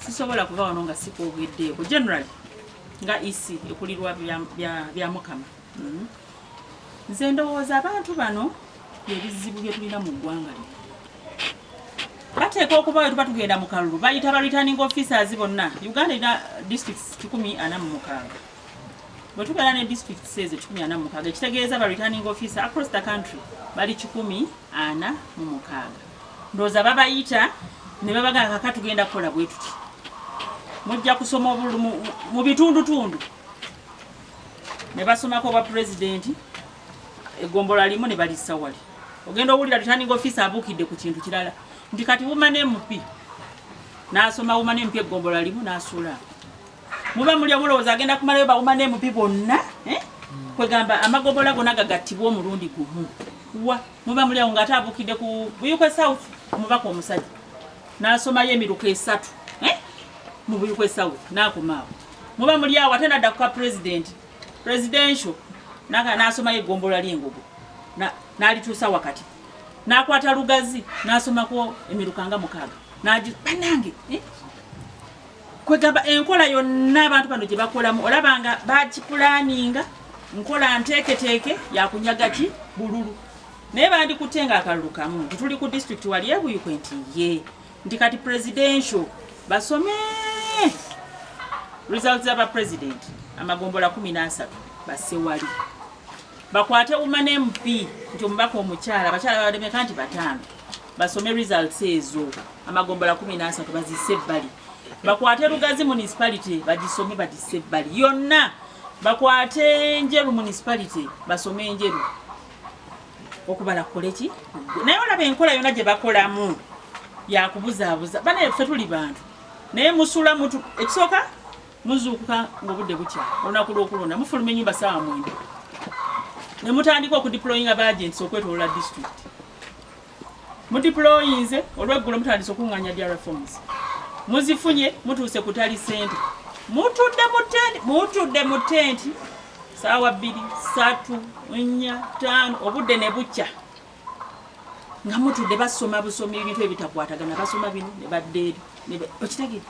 sisobola kuba wano nga sikwogeddeeko general nga ec ekulirwa bya mukama mm-hmm. nze ndowooza abantu bano byebizibu byetulina mu ggwanga lino bateeka okuba wetuba tugenda mu kalulu bayita ba returning officers bonna uganda erina districts kikumi ana mu mukaaga bwe tubeera ne districts ezo kikumi ana mu mukaaga ekitegeeza ba returning officer across the country bali kikumi ana mu mukaaga ndoza babayita ne babagala kaka tugenda kukola bwe tuti mujja kusoma obulu mu bitundutundu ne basomako obwa pulezidenti egombola limu ne balissa wali ogenda owulira returning office abuukidde ku kintu kirala nti kati wumane emupi n'asoma wumane emupi egombola limu n'asuula muba muli omulowooza agenda kumalayo bawumane emupi bonna eh? kwegamba amagombola gona gagattibwa omulundi gumu wa muba muli awo ng'ate abuukidde ku buyukwe south omubaka omusajja n'asomayo emiruka esatu eh? mu buyukwe south n'akomaawo muba muli awo ate nadda ku ka pulezidenti presidential n'asomayo eggombolola ly'engogo n'alituusa wakati n'akwata lugazi n'asomako emiruka nga mukaaga banange eh? kwegamba enkola yonna abantu bano gyebakolamu olaba nga bakipulaninga nkola nteeketeeke yakunyaga ki bululu naye bandikutte nga akalulu kamu nti tuli ku district wali ebuyikwe nti ye nti kati presidential basome results zaba president amagombola kumi n'asatu basewali bakwate umana mp nti omubaka omukyala abakyala bawademeka nti bataano basome results ezo amagombola kumi n'asatu bazisse ebbali bakwate lugazi municipality bagisome bagisse ebbali yonna bakwate njeru municipality basome enjeru okubala koleki naye olaba enkola yona gyebakolamu yakubuzaabuza bana efe tuli bantu naye musula mutu ekisooka muzuukuka ngaobudde butya olunaku lwokulonda mufuluma enyumba saawa mwenda nemutandika okudiployinga baagents okwetolola district mudiployinze olweggulo mutandise okunganya dia reforms muzifunye mutuuse kutali sente mutudde mutenti mutudde mutenti saawa bbiri satu nnya taano obudde ne bukya nga mutudde basoma busoma ebintu ebitakwatagana basoma bino ne badda eri okitagire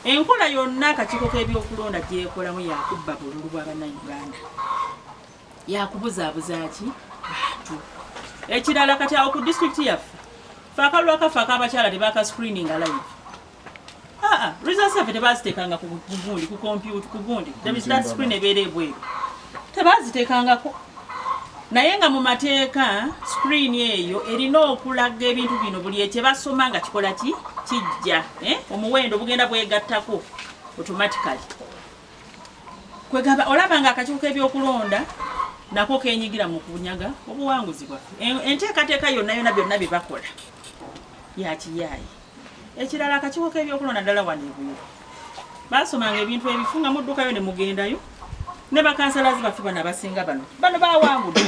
enkola yonna akakiiko k'ebyokulonda gyekolamu yakubba bululu bwa bannayuganda yakubuzaabuza ki bantu ekirala kati awo ku disitulikiti yaffe fe akalulu akaffe ak'abakyala tebaka screeninga live aa ah, ah, results yaffe tebaziteekanga kugundi ku kompyuta ku gundi that screen ebeera ebweru tebaziteekangako naye nga mu mateeka screen eyo erina okulaga ebintu bino buli ekyebasoma nga kikola ki kijja eh? omuwendo bugenda bwegattako automatically kwegamba olaba nga akakiiko k'ebyokulonda nako kenyigira mu kunyaga obuwanguzi bwaffe enteekateeka yonna yonna byonna bye bakola yakiyaayi ekirala akakiiko k'ebyokulonda ddala wano ebuyo baasomanga ebintu ebifu nga muddukayo ne mugendayo ne bakansalazi baffe bano abasinga bano bano bawangudde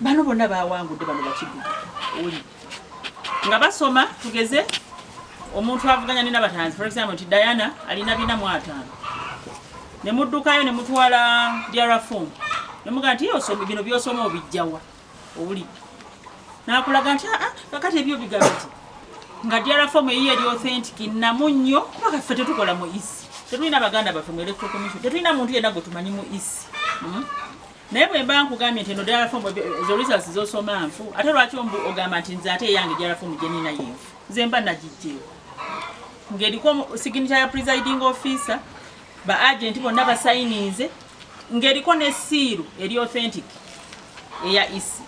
bano bonna bawangudde bano bakidduka nga basoma tugeze omuntu avuganya nina batanzi for example nti diana alina bina mu ataano ne muddukayo ne mutwala diarafom ne mugaa nti osoma bino byosoma obijjawa owuli nakulaga nti aa ah, ah, kakati ebyo bigambo ti nga diarafom eyiyo eri authentic namu nnyo kuba kaffe tetukola mu isi tetulina baganda baffe mu electro commission tetulina muntu yenna gwe tumanyi mu isi hmm? naye bwe mba nkugambye nti eno ddala fomu ezo results zosoma nfu ate lwaki ombu ogamba nti nze ate eyange ddala fomu gye nina yenfu nze mba nagijjeewo ng'eriko signature ya presiding officer ba agent bonna basayininze ng'eriko ne siiru eri authentic eya isi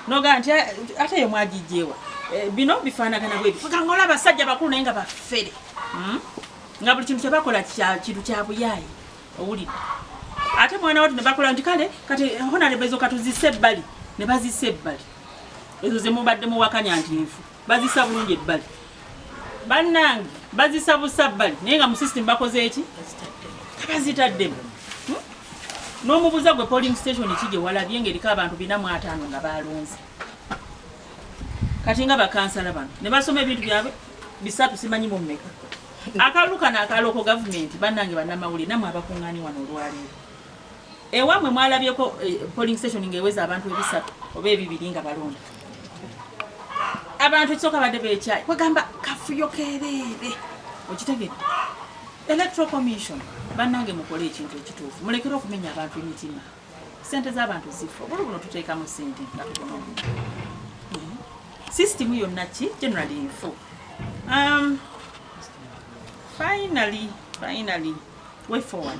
nogamba nti ate yo mwagijjeewa eh, bino bifaanagana bwe bifika ngaola abasajja bakulu naye nga bafere hmm? nga buli kintu kyebakola kintu kya buyaayi owulidde ate mwana watu nebakola nti kale kati honalebo ezo katuzise ebbali ne bazisa ebbali ezo zemubadde muwakanya nti nfu bazisa bulungi ebbali bannange bazisa busa bbali naye nga mu system bakoze eki tabazitaddemu hmm? n'omubuza gwe polling station ki gye walabye ngaeriko abantu bina mu ataano nga balonze kati nga bakansala bano ne basoma ebintu byabwe bisatu simanyi mu mmeka akalulu kano akaloko gavumenti bannange bannamawulire namwe abakuŋŋaani wano olwaleero ewamwe mwalabyeko eh, polling station ng'eweza abantu ebisatu oba ebibiri nga balonda abantu ekisooka badde bekyayi kwegamba kafuyo kereere okitegedde electoral commission bannange mukole ekintu ekituufu mulekere okumenya abantu emitima sente z'abantu zifo buli buno tuteekamu sente nga tubona omuntu hmm. sisitimu yonna ki generally nfu um, finally finally way forward